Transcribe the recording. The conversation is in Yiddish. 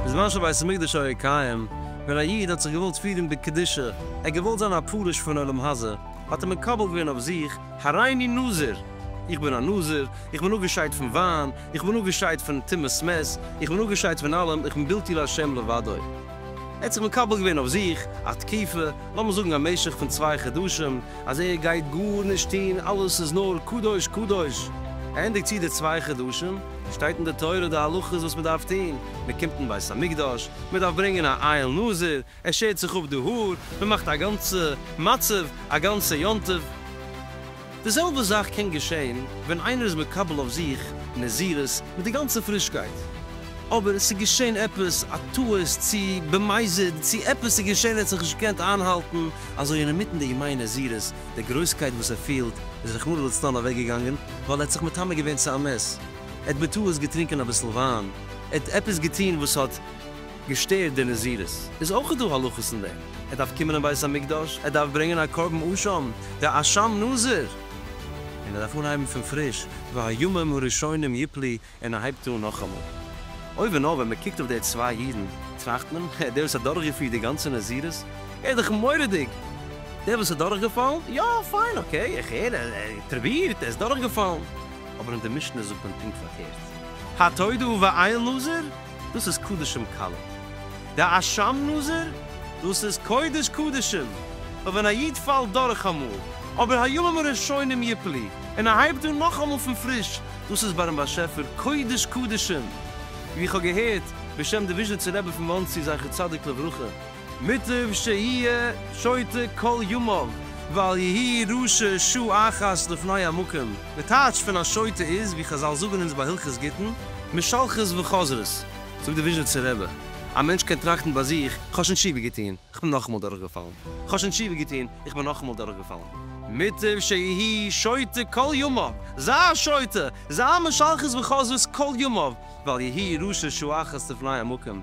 בזמן שבית המקדש היה קיים, ווען א איד האט זיך געוואלט פירן בקדושה, ער האט געוואלט זיין א פרוש פון עולם הזה, האט ער מקבל געווען אויף זיך, הריני נזיר! איך בין א נזיר, איך בין אפגעשיידט פון וויין, איך בין אפגעשיידט פון טומאת מת, איך בין אפגעשיידט פון אלעם, איך בין בלתי לה' לבדו. ער האט זיך מקבל געווען אויף זיך א תקופה, לאמיר זאגן א משך פון צוויי חדשים, אז ער גייט גארנישט טון, אלעס איז נאר קדוש קדוש. ענדיגט זיך די צוויי חדשים, שטייט אין די תורה די הלכות וואס מען דארף טון, מען קומט אין בית המקדש, מען דארף ברענגען א אייל נזיר, ער שערט זיך אפ די האר, מען מאכט א גאנצע מצב, א גאנצע יום טוב. די זעלבע זאך קען געשען ווען איינער איז מקבל אויף זיך נזירות מיט די גאנצע פרישקייט, אבער עס איז געשען עפעס א טעות צו במזיד צו עפעס איז געשען ער האט זיך נישט געקענט איינהאלטן, אזוי אינמיטן די ימי נזירות די גרויסקייט וואס ער פילט איז רחמנא לצלן אוועקגעגאנגען ווייל ער האט זיך מטמא געווען צו א מת, ער האט בטעות געטרינקען אביסל וויין, ער האט עפעס געטון וואס האט. געשטערט די נזירות, איז אויך דא הלכות אין דעם, ער דארף קומען אין בית המקדש, ער דארף ברענגען א קרבן אשם, דער אשם נזיר, און ער דארף אנהייבן פון פריש, והימים הראשונים יפלי, און ער הייבט אן נאכאמאל. אוי ווי נאר ווען מען קוקט אויף די צוויי אידן, טראכט מען, אה, דער וואס האט דורכגעפירט די גאנצע נזירות, ער איז דאך מורא'דיג, דער וואס איז דורכגעפאלן, יא, פיין, אקעי, איך הער, ער האט פרובירט, ער איז דורכגעפאלן, אבער אין די משנה זאגט מען פונקט פארקערט, התודו ואיל נזיר, דאס איז קדשים קלות. די אשם נזר, דאס איז קודש קדשים, פאר ווען א איד פאלט דורך אמאל, אבער הימים הראשונים יפלי, און ער הייבט אן נאכאמאל פון פריש, דאס איז ביי דעם באשעפער קודש קדשים, ווי איך האב געהערט בשם די וויזשניצער רבי פון מאנסי זכר צדיק לברכה. מוטב שיהיה שוטה כל ימיו ואל יהי' ראשו שעה אחת לפני המקום, די טייטש פון א שוטה איז, ווי חזל זאגן אונז ביי הלכות גיטין, משלחות וחוזרות, זאגט די וויזשניצער רבי, א מענטש קען טראכטן ביי זיך, כ'האב שוין תשובה געטון, כ'בין נאכאמאל דורכגעפאלן, כ'האב שוין תשובה געטון, איך בין נאכאמאל דורכגעפאלן. מוטב שיהי' שוטה כל ימיו, זיי א שוטה, זיי משלחות וחוזרות כל ימיו, ואל יהי' ראשו שעה אחת לפני המקום,